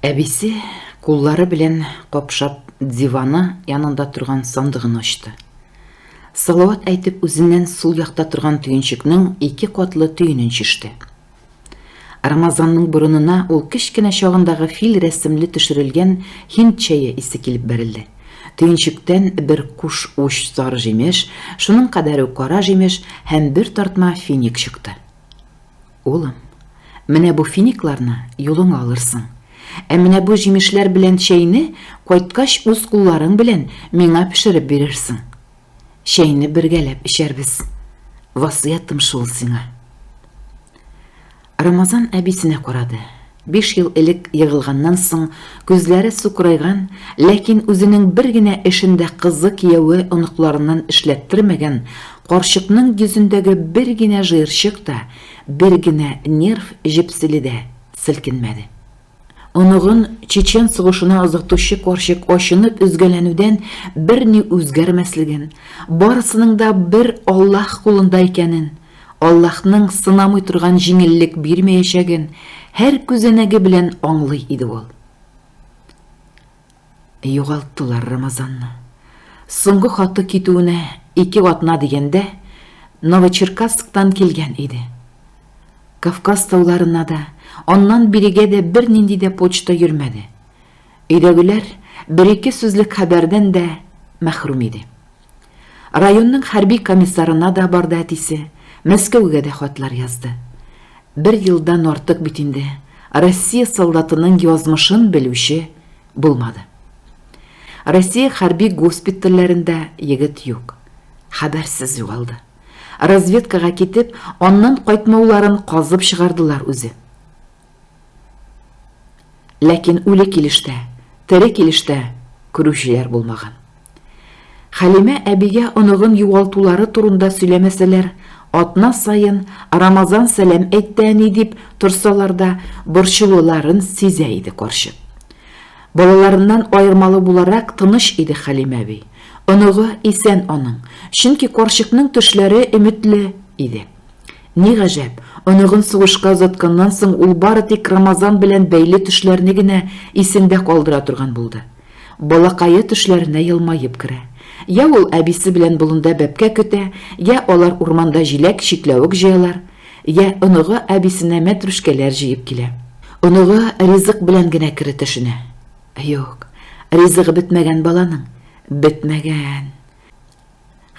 Әбисе, куллары белән капшап, диваны янында торган сандыгын ачты. Салават әйтеп үзеннән сул якта торган төенчекнең ике катлы төенен чиште. Рамазанның борынына ул кечкенә чагындагы фил рәсемле төшерелгән һинд чәе исе килеп бәрелде. Төенчектән бер куш уч сар җимеш, шуның кадәр үк кара җимеш һәм бер тартма финик чыкты. Улым, менә бу финикларны юлыңа алырсың. Ә менә бу җимешләр белән чәйне кайткач үз кулларың белән миңа пешереп бирерсең. Чәйне бергәләп эчәрбез. Васыятым шул сиңа. Рамазан әбисенә карады. Биш ел элек егылганнан соң күзләре сукырайган, ләкин үзенең бер генә эшен дә кызы, кияве, оныкларыннан эшләттермәгән карчыкның йөзендәге бер генә жыерчык та, бер генә нерв җепселе дә селкенмәде. Оныгын чечен сугышына озатучы карчык ачынып өзгәләнүдән берни үзгәрмәслеген, барысының да бер Аллаһ кулында икәнен, Аллаһның сынамый торган җиңеллек бирмәячәген һәр күзәнәге белән аңлый иде ул. Югалттылар Рамазанны. Соңгы хаты китүенә ике атна дигәндә Новочеркасктан килгән иде. Кавказ тауларына да, аннан бирегә дә бернинди дә почта йөрмәде. Өйдәгеләр бер-ике сүзлек хәбәрдән дә мәхрүм иде. Районның хәрби комиссарына да барды әтисе, Мәскәүгә дә хатлар язды. Бер елдан артык бит инде Россия солдатының язмышын белүче булмады. Россия хәрби госпитальләрендә егет юк. Хәбәрсез югалды. Разведкага китеп, аннан кайтмауларын казып чыгардылар үзе. Ләкин үле килеш тә, тере килеш тә күрүчеләр булмаган. Хәлимә әбигә оныгын югалтулары турында сөйләмәсәләр, атна саен Рамазан сәлам әйтте әни дип торсалар да, борчылуларын сизә иде карчык. Балаларыннан аермалы буларак тыныч иде Хәлимә әби. Оныгы исән аның, чөнки карчыкның төшләре өметле иде. Ни гаҗәп, оныгын сугышка озатканнан соң ул бары тик Рамазан белән бәйле төшләрне генә исендә калдыра торган булды. Балакае төшләренә елмаеп керә. Йә ул әбисе белән болында бәбкә көтә, йә алар урманда җиләк, чикләвек җыялар, йә оныгы әбисенә мәтрүшкәләр җыеп килә. Оныгы ризык белән генә кере төшенә. Юк, ризыгы бетмәгән баланың, бетмәгән.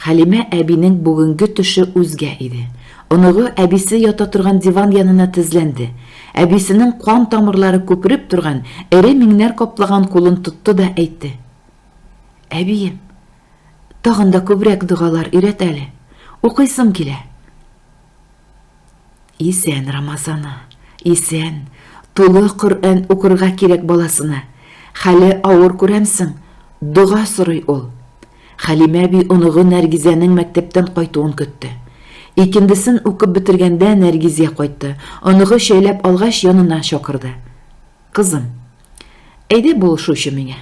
Хәлимә әбинең бүгенге төше үзгә иде. Оныгы әбисе ята торган диван янына тезләнде. Әбисенең кан тамырлары күпереп торган, эре миңнәр каплаган кулын тотты да әйтте. Әбием, тагын да күбрәк догалар өйрәт әле. Укыйсым килә. Исән Рамазаны, исән, тулы Коръән укырга кирәк баласына. Хәле авыр күрәмсең, дога сорый ул. Хәлимә әби оныгы Нәргизәнең мәктәптән кайтуын көтте. Икендесен укып бетергәндә Нәргизә кайтты. Оныгы чәйләп алгач, янына чакырды. Кызым, әйдә булышучы миңа.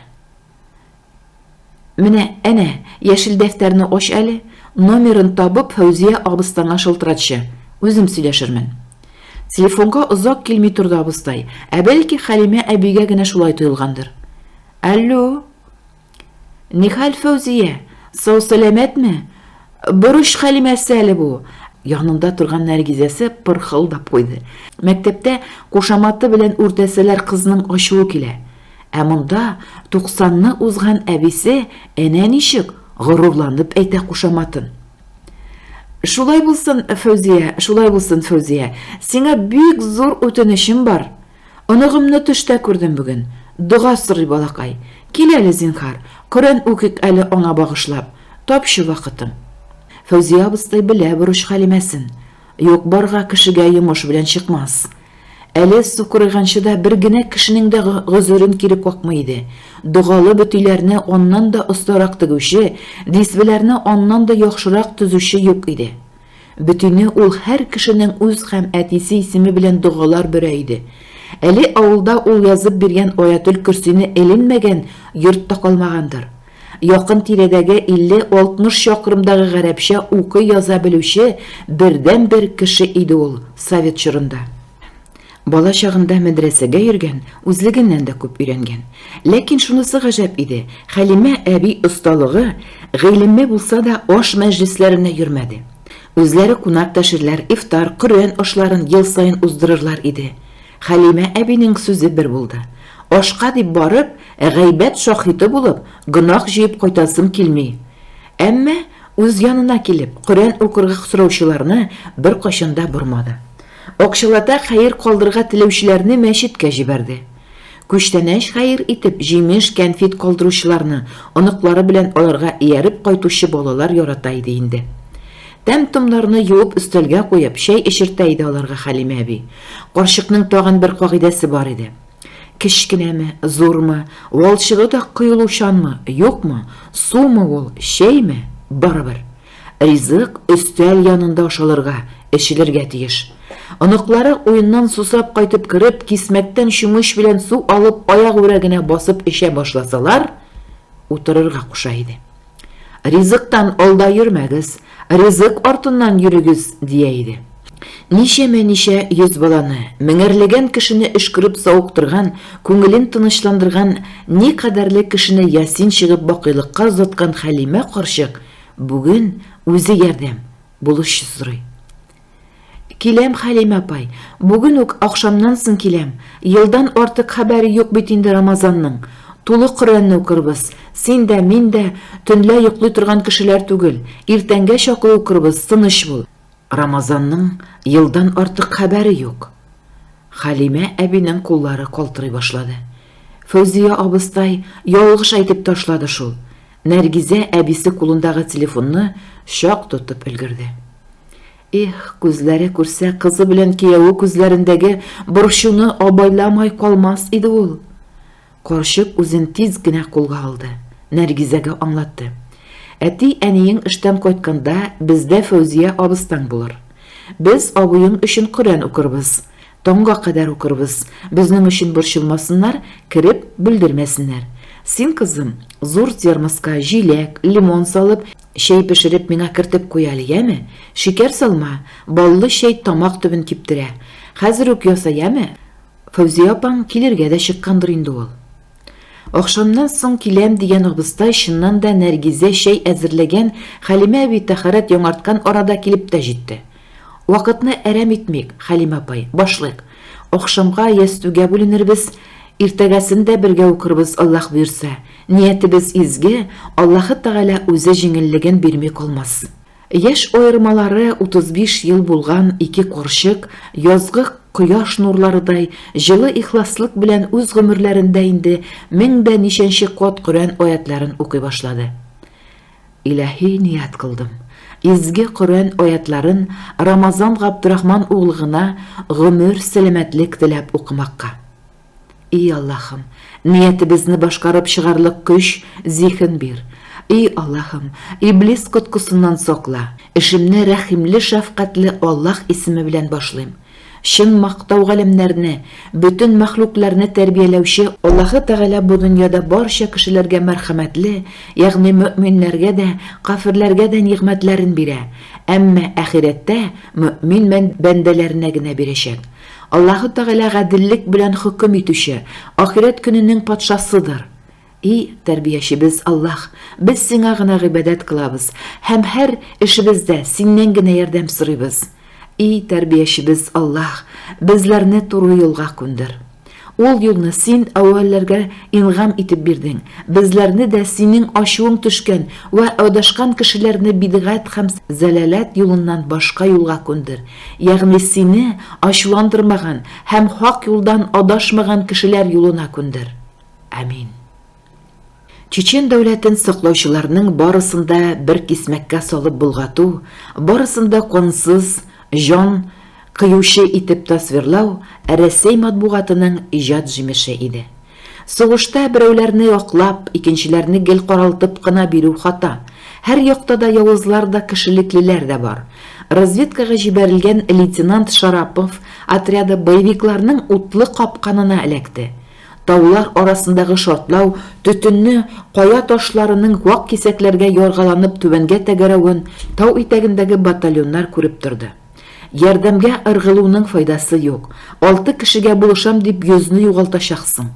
Менә, әнә, яшел дәфтәрне ач әле, номерын табып, Фәүзия абыстаңа шылтыратчы, үзем сөйләшермен. Телефонга озак килми торды абыстай, ә бәлки Хәлимә әбигә генә шулай тоелгандыр. Алло! Нихәл Фәүзия, сау-сәламәтме? Борыч Хәлимәсе әле бу. Янында торган Нәргизәсе пырхылдап куйды. Мәктәптә кушаматы белән үртәсәләр кызның ачуы килә. Ә монда туксанны узган әбисе әнә ничек горурланып әйтә кушаматын. Шулай булсын, Фәүзия, шулай булсын, Фәүзия. Сиңа бик зур үтенечем бар. Оныгымны төштә күрдем бүген. Дога сорый балакай. Кил әле, зинхар, Коръән укыйк әле аңа багышлап. Тапчы вакытың. Фәүзия абыстай белә бурыч-хәлимәсен. Юк-барга кешегә йомыш белән чыкмас. Әле сукырайганчы да бер генә кешенең дә гозерен кире какмый иде. Догалы бөтиләрне аннан да остарак тегүче, дисбеләрне аннан да яхшырак төзүче юк иде. Бөтине ул һәр кешенең үз һәм әтисе исеме белән догалар бөрә иде. Әле авылда ул язып биргән Аятел-Көрсине эленмәгән йорт та калмагандыр. Якын тирәдәге 50-60 чакрымдагы гарәпчә укый-яза белүче бердәнбер кеше иде ул совет чорында. Бала чагында мәдрәсәгә йөргән, үзлегеннән дә күп өйрәнгән. Ләкин шунысы гаҗәп иде, Хәлимә әби осталыгы, гыйлеме булса да, аш мәҗлесләренә йөрмәде. Үзләре кунак тәшерләр, ифтар, Коръән ашларын ел саен уздырырлар иде. Хәлимә әбинең сүзе бер булды. Ашка дип барып, гайбәт шаһиты булып, гөнаһ җыеп кайтасым килми. Әмма үз янына килеп, Коръән укырга сораучыларны беркайчан да бормады. Акчалата хәер калдырырга теләүчеләрне мәчеткә җибәрде. Күчтәнәч хәер итеп җимеш, кәнфит калдыручыларны, оныклары белән аларга ияреп кайтучы балалар ярата иде инде. Тәм-томнарны юып өстәлгә куеп, чәй эчертә иде аларга Хәлимә әби. Карчыкның тагын бер кагыйдәсе бар иде. Кечкенәме, зурмы, валчыгы да коелучанмы, юкмы, сумы ул, чәйме, барыбер. Ризык өстәл янында ашалырга, эчелергә тиеш. Оныклары уеннан сусап кайтып кереп, кисмәктән чүмеч белән су алып аягүрә генә басып эчә башласалар, утырырга куша иде. Ризыктан алда йөрмәгез, ризык артыннан йөрегез, дия иде. Ничәмә-ничә йөз баланы, меңәрләгән кешене өшкереп савыктырган, күңелен тынычландырган никадәрле кешене ясин чыгып бакыйлыкка озаткан Хәлимә карчык бүген үзе ярдәм, булышчы сорый. Киләм, Хәлимә апай. Бүген үк ахшамнан соң киләм. Елдан артык хәбәре юк бит инде Рамазанның. Тулы Коръәнне укырбыз. Син дә, мин дә төнлә йоклый торган кешеләр түгел. Иртәнгә чаклы укырбыз, тыныч бул. Рамазанның елдан артык хәбәре юк. Хәлимә әбинең куллары калтырый башлады. Фәүзия абыстай ялгыш әйтеп ташлады шул. Нәргизә әбисе кулындагы телефонны чак тотып өлгерде. Эх, күзләре күрсә, кызы белән кияүе күзләрендәге борчуны абайламай калмас иде ул. Карчык үзен тиз генә кулга алды. Нәргизәгә аңлатты. Әти, әниең эштән кайтканда, бездә Фәүзия абыстаң булыр. Без абыең өчен Коръән укырбыз. Таңга кадәр укырбыз, безнең өчен борчылмасыннар, кереп, бүлдермәсеннәр. Син, кызым, зур термоска җиләк, лимон салып, чәй пешереп миңа кертеп куй әле, яме? Шикәр салма, баллы чәй тамак төбен киптерә. Хәзер үк яса, яме? Фәүзия апаң килергә дә чыккандыр инде ул. Ахшамнан соң киләм дигән абыстай чыннан да Нәргизә чәй әзерләгән, Хәлимә әби тәһарәт яңарткан арада килеп тә җитте. Вакытны әрәм итмик, Хәлимә апай, башлыйк. Ахшамга ястүгә бүленербез, иртәгәсен дә бергә укырбыз, Аллаһ боерса. Ниятебез изге, Аллаһы Тәгалә үзе җиңеллеген бирми калмас. Яшь аермалары 35 ел булган ике карчык, язгы кояш нурларыдай җылы ихласлык белән үз гомерләрендә инде мең дә ничәнче кат Коръән аятьләрен укый башлады. Илаһи ният кылдым, изге Коръән аятьләрен Рамазан Габдрахман углыгына гомер сәламәтлек теләп укымакка. И Аллаһым, ниятебезне башкарып чыгарлык көч, зиһен бир. И Аллаһым, иблис коткысыннан сакла. Эшемне рәхимле-шәфкатьле Аллаһ исеме белән башлыйм. Чын мактау галәмнәрне, бөтен мәхлукларны тәрбияләүче Аллаһы Тәгалә бу дөньяда барча кешеләргә мәрхәмәтле, ягъни мөэминнәргә дә, кафирләргә дә нигъмәтләрен бирә, әмма ахирәттә мөэмин бәндәләренә генә бирәчәк. Аллаһы Тәгалә гаделлек белән хөкем итүче, ахирәт көненең патшасыдыр. И Тәрбиячебез Аллаһ, без Сиңа гына гыйбадәт кылабыз һәм һәр эшебездә Синнән генә ярдәм сорыйбыз. И Тәрбиячебез Аллаһ, безләрне туры юлга күндер. Ул юлны Син әүвәлләргә ингам итеп бирдең, безләрне дә Синең ачуың төшкән вә адашкан кешеләрне бидгать һәм зәлаләт юлыннан башка юлга күндер, ягъни Сине ачуландырмаган һәм хак юлдан адашмаган кешеләр юлына күндер. Амин. Чечен дәүләтен саклаучыларның барысын да бер кисмәккә салып булгату, барысын да кансыз, җан кыючы итеп тасвирлау Рәсәй матбугатының иҗат җимеше иде. Сугышта берәүләрне яклап, икенчеләрне гел каралтып кына бирү хата. Һәр якта да явызлар да, кешелеклеләр дә бар. Разведкага җибәрелгән лейтенант Шарапов отряды боевикларның утлы капканына эләкте. Таулар арасындагы шартлау төтенне, кая ташларының вак кисәкләргә яргаланып түбәнгә тәгәрәвен тау итәгендәге батальоннар күреп торды. Ярдәмгә ыргылуның файдасы юк, алты кешегә булышам дип йөзне югалтачаксың.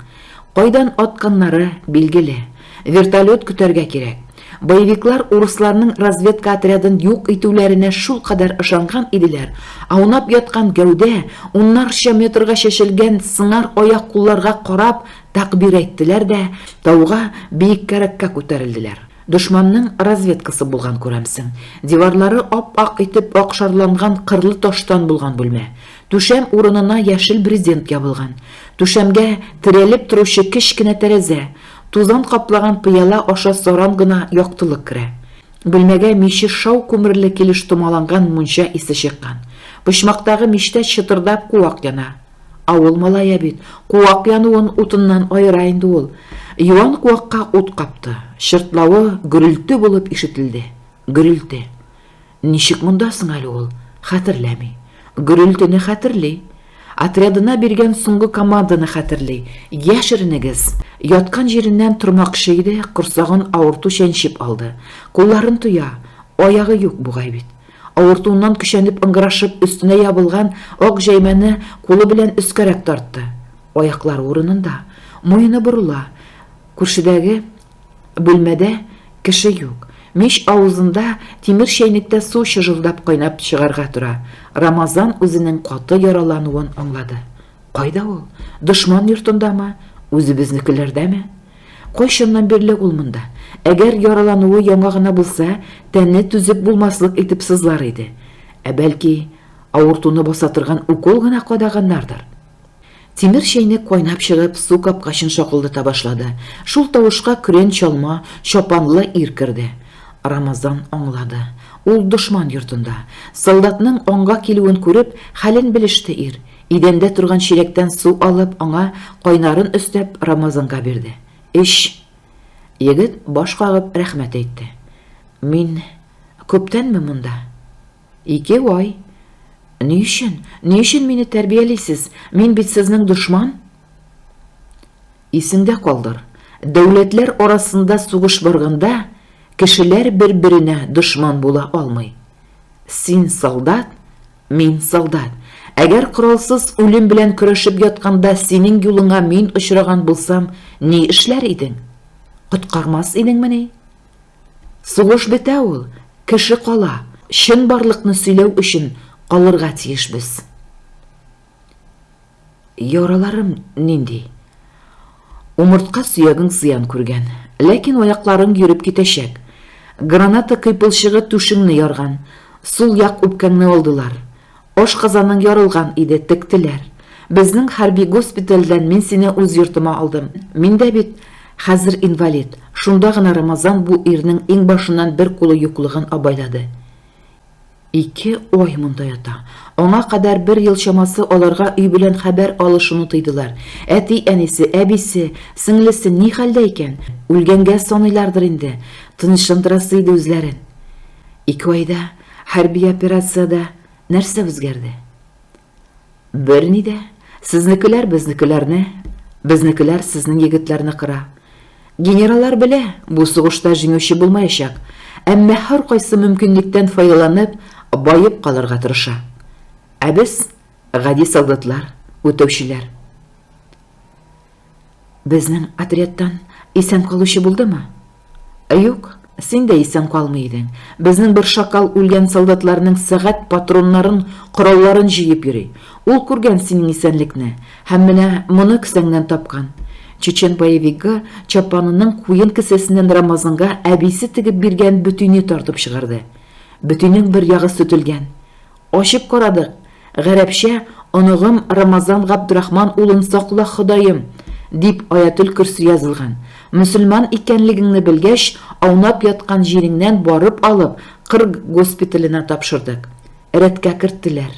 Кайдан атканнары билгеле, Вертолет көтәргә кирәк. Боевиклар урысларның разведка отрядын юк итүләренә шул кадәр ышанган иделәр, аунап яткан гәүдә, уннарча метрга чәчелгән сыңар аяк-кулларга карап тәкъбир әйттеләр дә, тауга, биеккәрәккә күтәрелделәр. Дошманның разведкасы булган, күрәмсең. Диварлары ап-ак итеп акшарланган кырлы таштан булган бүлмә. Түшәм урынына яшел брезент ябылган. Түшәмгә терәлеп торучы кечкенә тәрәзә. Тузан каплаган пыяла аша саран гына яктылык керә. Бүлмәгә миче шау күмерле килеш томаланган мунча исе чыккан. Почмактагы мичтә чытырдап куак яна. Авыл малае бит, куак януын утыннан аера инде ул. Юан куакка ут капты. Чыртлавы гөрелте булып ишетелде. Гөрелте. Ничек монда соң әле ул? Хәтерләми. Гөрелтене хәтерли. Отрядына биргән соңгы команданы хәтерли. Яшеренегез! Яткан җиреннән тормакчы иде, корсагын авырту чәнчеп алды. Кулларын тоя. Аягы юк бугай бит. Авыртуыннан көчәнеп ыңгырашып, өстенә ябылган ак җәймәне кулы белән өскәрәк тартты. Аяклары урынында. Муены борыла. Күршедәге Бүлмәдә кеше юк. Мич авызында тимер чәйнектә су чыжылдап кайнап чыгарга тора. Рамазан үзенең каты яралануын аңлады. Кайда ул? Дошман йортындамы? Үзебезнекеләрдәме? Кайчаннан бирле ул монда? Әгәр яралануы яңа гына булса, тәне түзеп булмаслык итеп сызлар иде. Ә бәлки, авыртуны баса торган укол гына кадаганнардыр? Тимер чәйнек кайнап чыгып, су капкачын шакылдата башлады. Шул тавышка көрән чалма, чапанлы ир керде. Рамазан аңлады. Ул дошман йортында. Солдатның аңга килүен күреп, хәлен белеште ир. Идәндә торган чиләктән су алып, аңа кайнарын өстәп, Рамазанга бирде. Эч! Егет баш кагып рәхмәт әйтте. Мин күптәнме монда? Ике ай. Ни өчен? Ни өчен мине тәрбиялисез? Мин бит сезнең дошман. Исеңдә калдыр, дәүләтләр арасында сугыш барганда, кешеләр бер-беренә дошман була алмый. Син солдат, мин солдат. Әгәр коралсыз үлем белән көрәшеп ятканда синең юлыңа мин очраган булсам, ни эшләр идең? Коткармас идеңмени? Сугыш бетә ул, кеше кала, чынбарлыкны сөйләү өчен калырга тиеш без. Яраларым нинди? Умыртка сөягең зыян күргән, ләкин аякларың йөреп китәчәк. Граната кыйпылчыгы түшеңне ярган, сул як үпкәңне алдылар. Ашказаның ярылган иде, тектеләр. Безнең хәрби госпитальдән мин сине үз йортыма алдым. Мин дә бит хәзер инвалид. Шунда гына Рамазан бу ирнең иңбашыннан бер кулы юклыгын абайлады. Ике ай монда ята. Аңа кадәр бер ел чамасы аларга өй белән хәбәр алышуны тыйдылар. Әти-әнисе, әбисе, сеңлесе ни хәлдә икән? Үлгәнгә саныйлардыр инде. Тынычландырасы иде үзләрен. Ике айда Хәрби операциядә нәрсә үзгәрде? Берни дә. Сезнекеләр безнекеләрне, безнекеләр сезнең егетләрне кыра. Генераллар белә, бу сугышта җиңүче булмаячак, әмма һәркайсы мөмкинлектән файдаланып, баеп калырга тырыша. Ә без, гади солдатлар, үтәүчеләр. Безнең отрядтан исән калучы булдымы? Юк, син дә исән калмый идең. Безнең бер шакал үлгән солдатларның сәгать патроннарын, коралларын җыеп йөри. Ул күргән синең исәнлекне һәм менә моны кесәңнән тапкан. Чечен боевигы чапанының куен кесәсеннән Рамазанга әбисе тегеп биргән бөтине тартып чыгарды. Бөтинең бер ягы сөтелгән. Ачып карадык. Гарәпчә, Оныгым Рамазан Габдрахман улын сакла, Ходаем! дип Аятөл Көрси язылган. Мөселман икәнлегеңне белгәч, аунап яткан җиреңнән барып алып, Кырг госпиталенә тапшырдык. Рәткә керттеләр.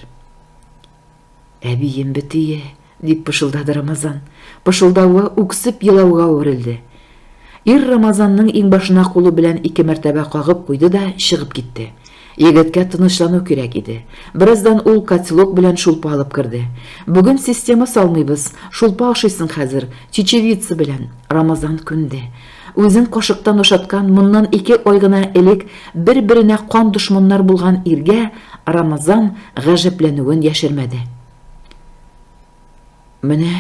Әбием бетие, дип пышылдады Рамазан. Пышылдавы үксеп елауга әверелде. Ир Рамазанның иңбашына кулы белән ике мәртәбә кагып куйды да чыгып китте. Егеткә тынычлану кирәк иде. Бераздан ул котелок белән шулпа алып керде. Бүген система салмыйбыз, шулпа ашыйсың хәзер, чечевица белән. Рамазан күнде. Үзен кашыктан ашаткан моннан ике ай гына элек бер-беренә кан дошманнар булган иргә Рамазан гаҗәпләнүен яшермәде. Менә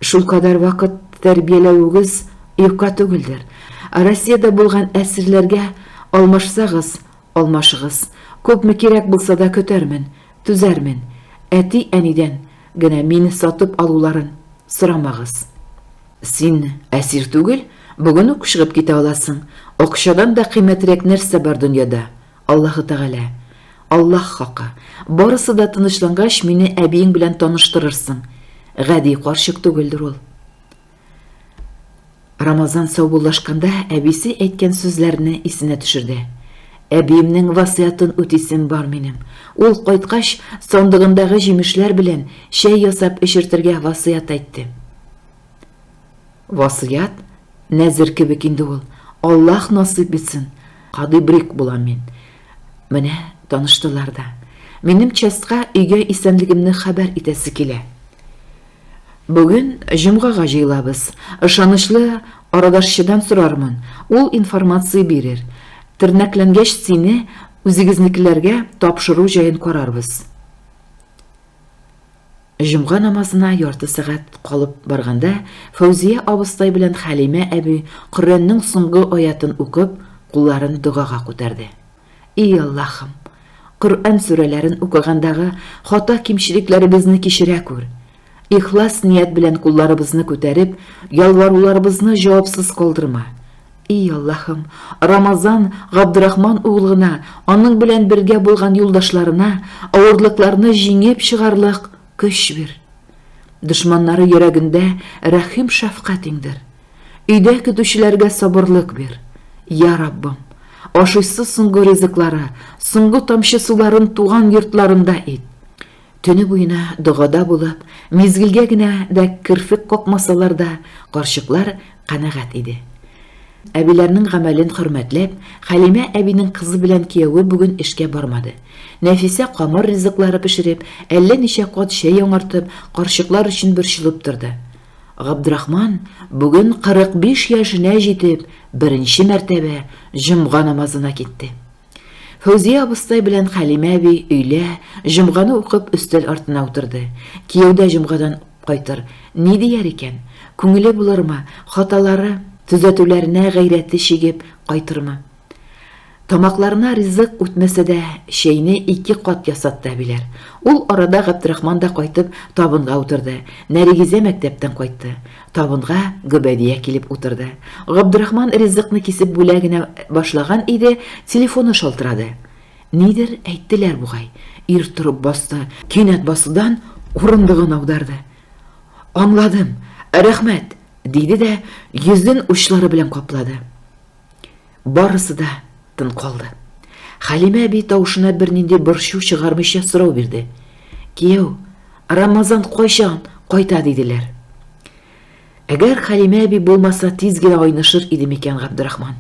шулкадәр вакыт тәрбияләвегез юкка түгелдер. Россиядә булган әсирләргә алмашсагыз, алмашыгыз. Күпме кирәк булса да көтәрмен, түзәрмен. Әти-әнидән генә мине сатып алуларын сорамагыз. Син әсир түгел, бүген үк чыгып китә аласың. Акчадан да кыйммәтрәк нәрсә бар дөньяда? Аллаһы Тәгалә. Аллаһ хакы. Барысы да тынычлангач, мине әбиең белән таныштырырсың. Гади карчык түгелдер ул. Рамазан саубуллашканда әбисе әйткән сүзләрне исенә төшерде. Әбиемнең васыятын үтисем бар минем. Ул кайткач, сандыгындагы җимешләр белән чәй ясап эчертергә васыят әйтте. Васыять, нәзер кебек инде ул. Аллаһ насыйп итсен, кадый брик булам мин. Менә таныштылар да. Минем частька өйгә исәнлегемне хәбәр итәсе килә. Бүген җомгага җыелабыз. Ышанычлы арадашчыдан сорармын, ул информация бирер. Тернәкләнгәч сине үзегезнекеләргә тапшыру җаен карарбыз. Җомга намазына ярты сәгать калып барганда, Фәүзия абыстай белән Хәлимә әби Коръәннең соңгы аятын укып, кулларын догага күтәрде. И Аллаһым! Коръән сүрәләрен укыгандагы хата-кимчелекләребезне кичерә күр! Ихлас ният белән кулларыбызны күтәреп, ялваруларыбызны җавапсыз калдырма! И Аллаһым, Рамазан Габдрахман углына, аның белән бергә булган юлдашларына авырлыкларны җиңеп чыгарлык көч бир. Дошманнары йөрәгендә рәхим шәфкать иңдер. Өйдә көтүчеләргә сабырлык бир. Я Раббым, ашыйсы соңгы ризыклары, соңгы тамчы суларын туган йортларында ит. Төне буена догада булып, мизгелгә генә дә керфек какмасалар да, карчыклар канәгать иде. Әбиләрнең гамәлен хөрмәтләп, Хәлимә әбинең кызы белән кияве бүген эшкә бармады. Нәфисә камыр ризыклары пешереп, әллә ничә кат чәй яңартып, карчыклар өчен борчылып торды. Габдрахман, бүген 45 яшенә җитеп, беренче мәртәбә җомга намазына китте. Фәүзия абыстай белән Хәлимә әби өйлә, җомганы укып, өстәл артына утырды. Кияү дә җомгадан кайтыр. Ни дияр икән? Күңеле булырмы? Хаталары, төзәтүләренә гайрәте чигеп кайтырмы? Тамакларына ризык үтмәсә дә, чәйне ике кат ясатты әбиләр. Ул арада Габдрахман да кайтып, табынга утырды. Нәригизә мәктәптән кайтты. Табынга Гөбәдия килеп утырды. Габдрахман ризыкны кисеп бүлә генә башлаган иде, телефоны шалтырады. Нидер әйттеләр бугай. Ир торып басты, кинәт басудан урындыгын аударды. Аңладым, рәхмәт, диде дә йөзен учлары белән каплады. Барысы да тын калды. Хәлимә әби тавышына бернинди борчу чыгармыйча сорау бирде. Кияү, Рамазан кайчан кайта диделәр. Әгәр Хәлимә әби булмаса, тиз генә айнышыр иде микән Габдрахман.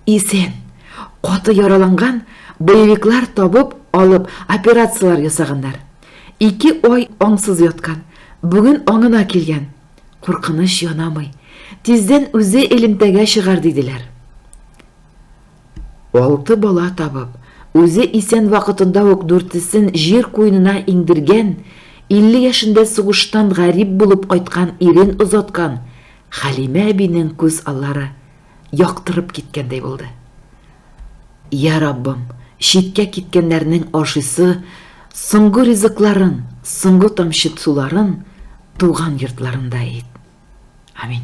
Исән, каты яраланган, боевиклар табып, алып, операцияләр ясаганнар. Ике ай аңсыз яткан. Бүген аңына килгән, Куркыныч янамый. Тиздән үзе элемтәгә чыгар диделәр. Алты бала табып, үзе исән вакытында ук дүртесен җир куенына иңдергән, 50 яшендә сугыштан гарип булып кайткан ирен озаткан Хәлимә әбинең күз аллары яктырып киткәндәй булды. Я Раббым, читкә киткәннәрнең ашыйсы соңгы ризыкларын, соңгы тамчы суларын туган йортларында ит. Амин.